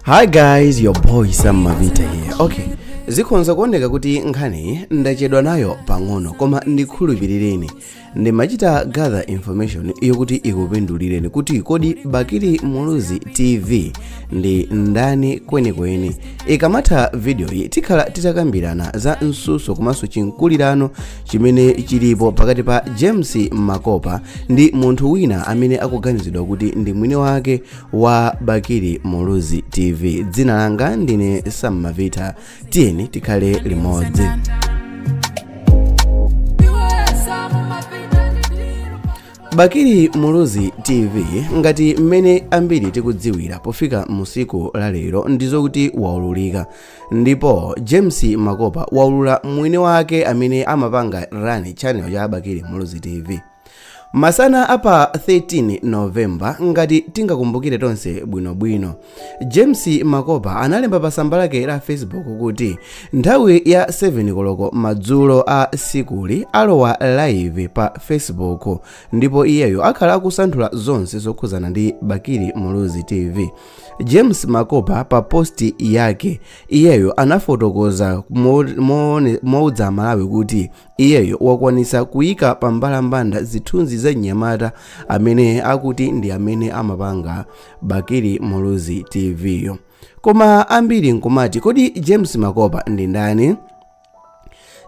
hi guys your boy sam mavita here okay zikhonza kuoneka kuti nkhaniyi ndachedwa nayo pang'ono koma ndikhulupirireni ndimachita gather information yokuti ikupindulireni kuti kodi bakili muluzi tv ndi ndani kwenikweni ikamatha vidiyoyi tikhala titakambirana za mtsutso komanso chimkulirano chimene chilipo pakati pa james makopa ndi munthu wina amene akuganizidwa kuti ndi mwini wake wa bakili muluzi tv dzina langa ndine sam mavita tiyeni tikhale limodzi bakili muluzi tv ngati mmene ambiri tikudziwira pofika mu tsiku la lero ndizokuti waululika ndipo james makopa waulula mwini wake amene amapanga run channel ya bakili muluzi tv masana a pa 13 november ngati tingakumbukire tonse bwinobwino james makopa analemba pa tsamba lake la facebook kuti nthawi ya 7 koloko madzulo a tsikuli alowa live pa facebook ndipo iyeyo akhala akusanthula zonse zokhudzana ndi bakili muluzi tv james makopa pa posti yake iyeyo anafotokoza mouza amalawi kuti Iyeyo wakwanitsa kuyika pa mbalambanda zithunzi za mnyamata amene akuti ndi amene amapanga Bakili Muluzi TV yo. Koma ambiri nkumati kodi James Makopa ndi ndani?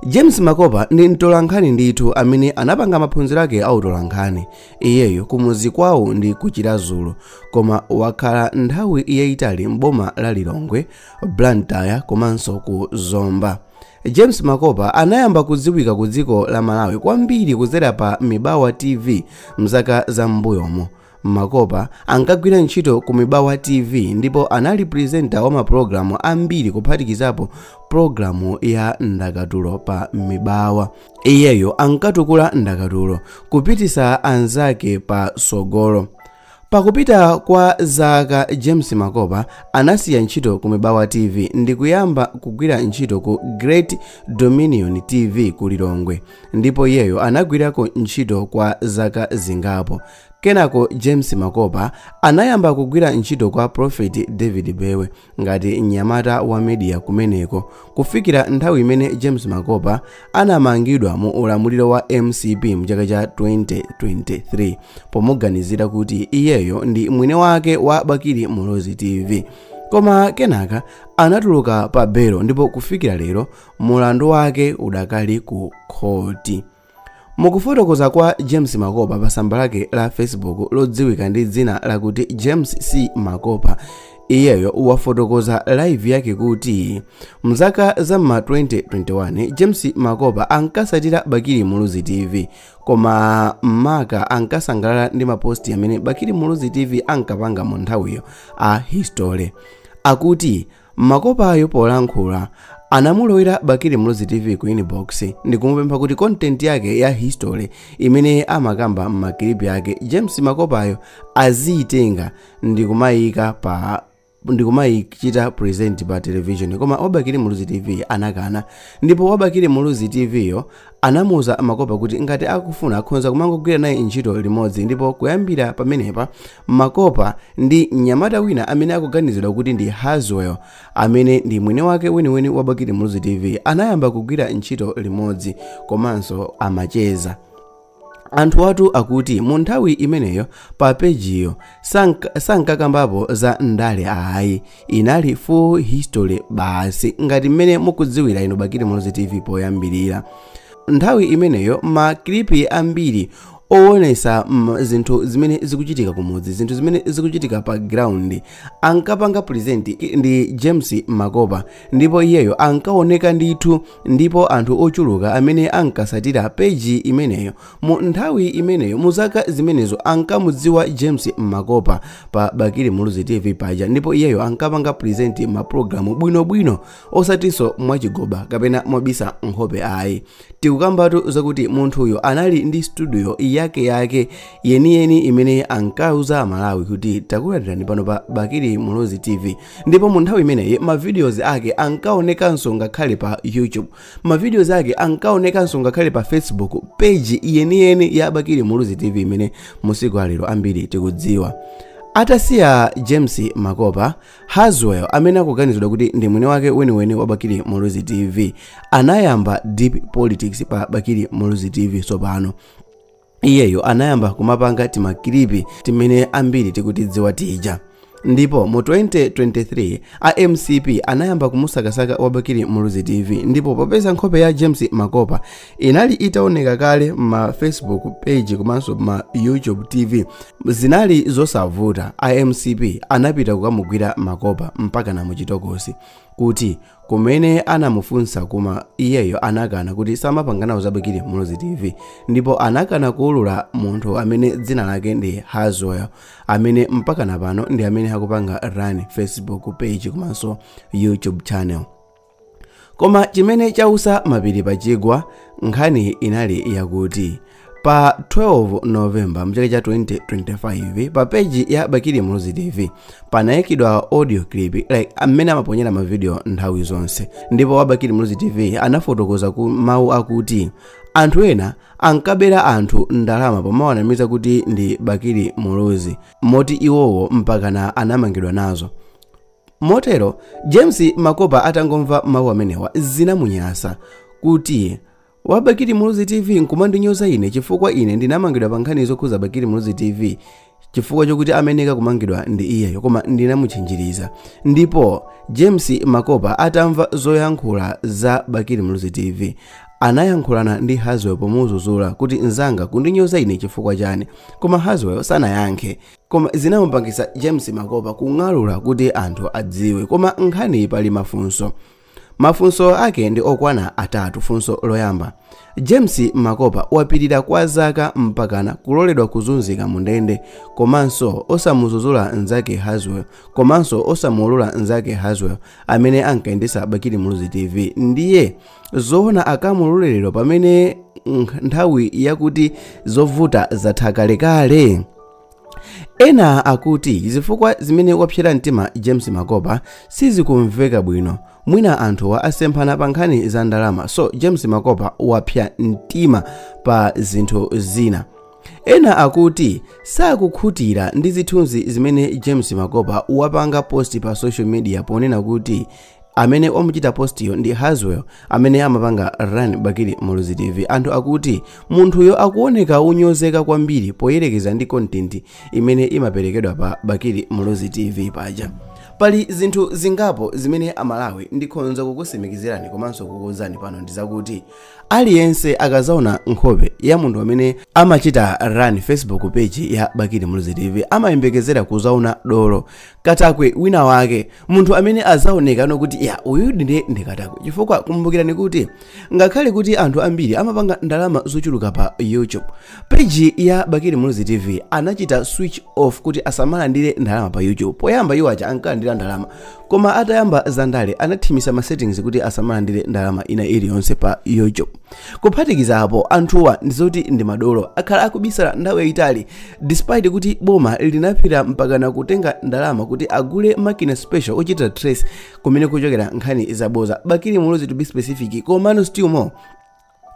James Makopa ndi mtolankhani ndithu amene anapanga maphunziro ake a utolankhani. Iyeyo kumuzi kwawo ndi ku Chiradzulu koma wakhala nthawi yayitali m'boma la Lilongwe, Blantyre komanso ku Zomba. James Makopa anayamba kudziwika ku dziko la Malawi kwambiri kudzera pa Mibawa TV mzaka za m'mbuyomo. Makopa ankagwira ntchito ku Mibawa TV ndipo anali presenter wa mapulogalamu ambiri kuphatikizapo pulogalamu ya ndakatulo pa Mibawa. Iyeyo ankatukula ndakatulo, kupititsa anzake patsogolo. Pakupita kwa zaka James Makopa anasiya ntchito ku Mibawa TV ndikuyamba kugwira ntchito ku Great Dominion TV ku Lilongwe ndipo iyeyo anagwirako ntchito kwa zaka zingapo. Kenako James Makopa anayamba kugwira ntchito kwa Prophet David Mbewe ngati mnyamata wa media kumeneko kufikira nthawi imene james makopa anamangidwa mu ulamuliro wa mcp mchaka cha 2023 pomuganizira kuti iyeyo ndi mwini wake wa bakili muluzi tv koma kenaka anatuluka pa belo ndipo kufikira lero mlandu wake udakali ku khoti Mukufotokoza kwa James Makopa pa tsamba lake la Facebook lodziwika ndi dzina lakuti James C Makopa, iyeyo wafotokoza live yake kuti mzaka za ma 2021 James Makopa ankasatira Bakili Muluzi TV koma maka ankasangalala ndi maposti amene Bakili Muluzi TV ankapanga mu nthawiyo a history akuti Makopayo polankhula anamulowera Bakili Muluzi TV ku inbox ndikumupempha kuti content yake ya history imene amakamba m'makilipi ake James Makopayo aziyitenga ndikumayika pa ndikumayichita present pa television koma wabakili muluzi tv anakana ndipo wabakili muluzi tv yo Anamuuza Makopa kuti ngati akufuna akhonza kumangogwira naye ntchito limodzi ndipo kuyambira pamenepa Makopa ndi mnyamata wina amene akuganizidwa kuti ndi Haswell amene ndi mwini wake weniweni wa Bakili Muluzi TV anayamba kugwira ntchito limodzi komanso amacheza. Anthuwatu akuti mu nthawi imeneyo pa pejiyo sank- sankakambapo za ndale ayi inali full history basi ngati mmene mukudziwira inu bakili muluzi tv poyambirira nthawi imeneyo makilipi ambiri owonesa zinthu zimene zikuchitika kumudzi zinthu zimene zikuchitika pa ground ankapanga present ndi james makopa ndipo iyeyo ankaoneka ndithu ndipo anthu ochuluka amene ankasatira peji imeneyo mu nthawi imeneyo mu zaka zimenezo ankamudziwa james makopa pa bakili muluzi tv paja ndipo iyeyo ankapanga presenti mapulogalamu bwinobwino osatinso mwachigoba kapena mwabisa nkhope ayi tikukambatu zakuti munthuyo anali ndi studio yake yake yeniyeni imene ankauza amalawi kuti takulandirani pano pa bakili muluzi tv ndipo mu nthawi imeneyi mavidiyozi ake ankaonekanso ngakhale pa youtube mavidiyozi ake ankaonekanso ngakhale pa facebook peji yeniyeni ya bakili muluzi tv imene masiku a lero ambiri tikudziwa atasiya james makopa haswell amene akuganizidwa kuti ndi mwini wake weniweni wa bakili muluzi tv anayamba deep politics pa bakili muluzi tv tsopano iyeyo anayamba kumapanga timakilipi timene ambiri tikutidziwa tija ndipo mu 2023 a mcp anayamba kumusakasaka wabakili muluzi tv ndipo popeza nkhope ya james makopa inali itaoneka kale ma facebook page komanso ma youtube tv zinali zosavuta a mcp anapita kukamugwira makopa mpakana m'chitokosi kuti kumene anamufunsa kuma iyeyo anakana kuti samapanga nawo za bakili muluzi tv ndipo anakana kuulula munthu amene dzina lake ndi haswell amene mpakana pano ndi amene akupanga run facebook page komanso youtube channel koma chimene chausa mapiri pachigwa nkhani inali yakuti pa 12 novemba mchaka cha 2025 pa peji ya bakili muluzi tv panayikidwa audio clip like amene amaponyera mavidiyo nthawi zonse ndipo wa bakili muluzi tv anafotokoza ku mawu akuti anthu ena ankabera anthu ndalama pomawanamiza kuti ndi bakili muluzi moti iwowo mpakana anamangidwa nazo motero james makopa atangomva mawu amenewa zinamunyasa kuti wa bakili muluzi tv nkumandinyoza ine chifukwa ine ndinamangidwa pa nkhani zokhuza bakili muluzi tv chifukwa chokuti amayenera kumangidwa ndi iyeyo koma ndinamuchinjiriza ndipo james makopa atamva zoyankhula za bakili muluzi tv anayankhulana ndi haswell pomuzuzula kuti nzanga kundinyoza ine chifukwa chani koma haswell sanayankhe koma zinamupangisa james makopa kung'alula kuti anthu adziwe koma nkhaniyi pali mafunso Mafunso ake ndi okwana atatu. Funso loyamba, James Makopa wapirira kwa zaka mpakana kuloledwa kuzunzika mu ndende komanso osamuzuzula nzake Haswell komanso osamuulula nzake Haswell amene ankayendetsa Bakili Muluzi TV ndiye zoona akamulule lero pamene nkh- nthawi yakuti zovuta zatha kalekale? ena akuti zifukwa zimene wapsera mtima james makopa sizikumveka bwino mwina anthuwa asemphana pa nkhani za ndalama so james makopa wapsa mtima pa zinthu zina ena akuti sakukhutira ndi zithunzi zimene james makopa wapanga posti pa social media ponena kuti amene wamuchita postiyo ndi haswell amene amapanga run bakili muluzi tv anthu akuti munthuyo akuoneka onyozeka kwambiri poyerekeza ndi kontenti imene imaperekedwa pa bakili muluzi tv paja pali zinthu zingapo zimene amalawi ndikhonza kukusimikizirani komanso kukuuzani pano ndi zakuti aliyense akazaona nkhope ya munthu amene amachita run facebook page ya bakili muluzi tv amayembekezera kuzaona dolo katakwe wina wake munthu amene azaonekano kuti ya uyudi ndi katakwe chifukwa kumbukirani kuti ngakhale kuti anthu ambiri amapanga ndalama zochuluka pa youtube peji ya bakili muluzi tv anachita switch off kuti asamalandire ndalama pa youtube poyamba iwo aja ankalandira ndalama koma atayamba zandale anathimisa ma settings kuti asamalandire ndalama ina iliyonse pa youtube kuphatikiza apo anthuwa ndizoti ndi madolo akhala akubisala nthawi yayitali despite kuti boma linapita mpakana kutenga ndalama kuti agule makina special ochita trace kumene kuchokera nkhani zaboza bakili muluzi to be specific komano still more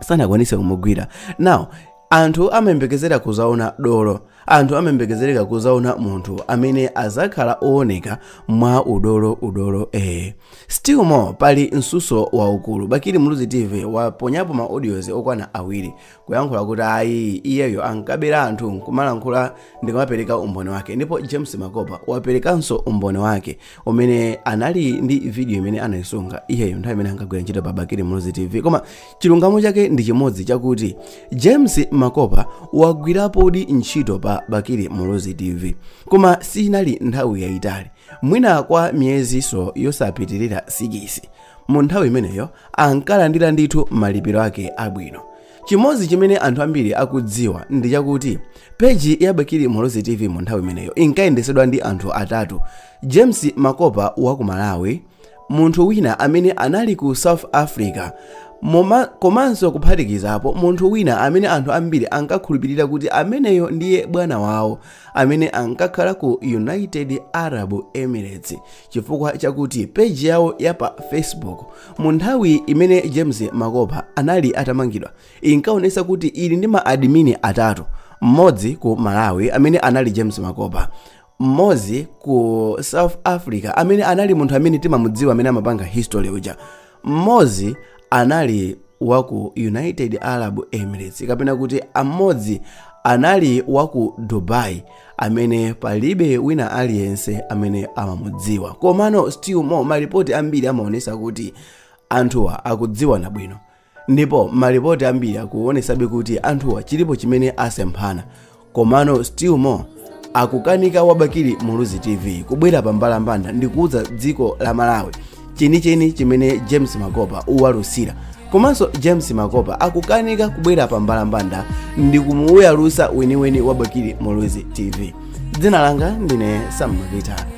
sanakwanise kumugwira now Anthu amayembekezera kudzaona dolo. Anthu amayembekezereka kudzaona munthu amene adzakhala owoneka mwa udolo udolo ee. Still more pali msuso waukulu. Bakili Muluzi TV waponyapo ma audios okwana awiri kuyankhula kuti ayi iyeyo ankabera anthu kumalankhula ndikumapereka umboni wake ndipo James Makopa waperekanso umboni wake umene anali ndi video imene anayisunga iyeyo nthawi imene ankagwira ntchito pa Bakili Muluzi TV koma chilungamo chake ndi chimodzi chakuti james makopa wagwirapodi ntchito pa bakili muluzi tv koma sinali nthawi yayitali mwina kwa miyezinso yosapitirira 6 mu nthawi imeneyo ankalandira ndithu malipiro ake abwino chimodzi chimene anthu ambiri akudziwa ndi chakuti peji ya bakili muluzi tv mu nthawi imeneyo inkayendesedwa ndi anthu atatu james makopa wa ku malawi munthu wina amene anali ku south africa komanso kuphatikizapo munthu wina amene anthu ambiri ankakhulupirira kuti ameneyo ndiye bwana wawo amene ankakhala ku united arab emirates chifukwa chakuti peji yawo ya pa facebook mu nthawi imene james makopa anali atamangidwa inkaonesa kuti ili ndi ma admini atatu mmodzi ku malawi amene anali james makopa mmodzi ku south africa amene anali munthu amene timamudziwa amene amapanga history uja mmodzi anali wa ku united arab emirates kapena kuti amodzi anali wa ku dubai amene palibe wina aliyense amene amamudziwa komano still more malipoti ambiri amaonesa kuti anthuwa akudziwana bwino ndipo malipoti ambiri akuonesabe kuti anthuwa chilipo chimene asemphana komano still more akukanika wabakili muluzi tv kubwera pa mbalambanda ndi kuuza dziko la malawi chenicheni chimene james makopa uwalusira komanso james makopa akukanika kubwera pa mbalambanda ndi kumuyalusa weniweni wabakili muluzi tv dzina langa ndine sammavita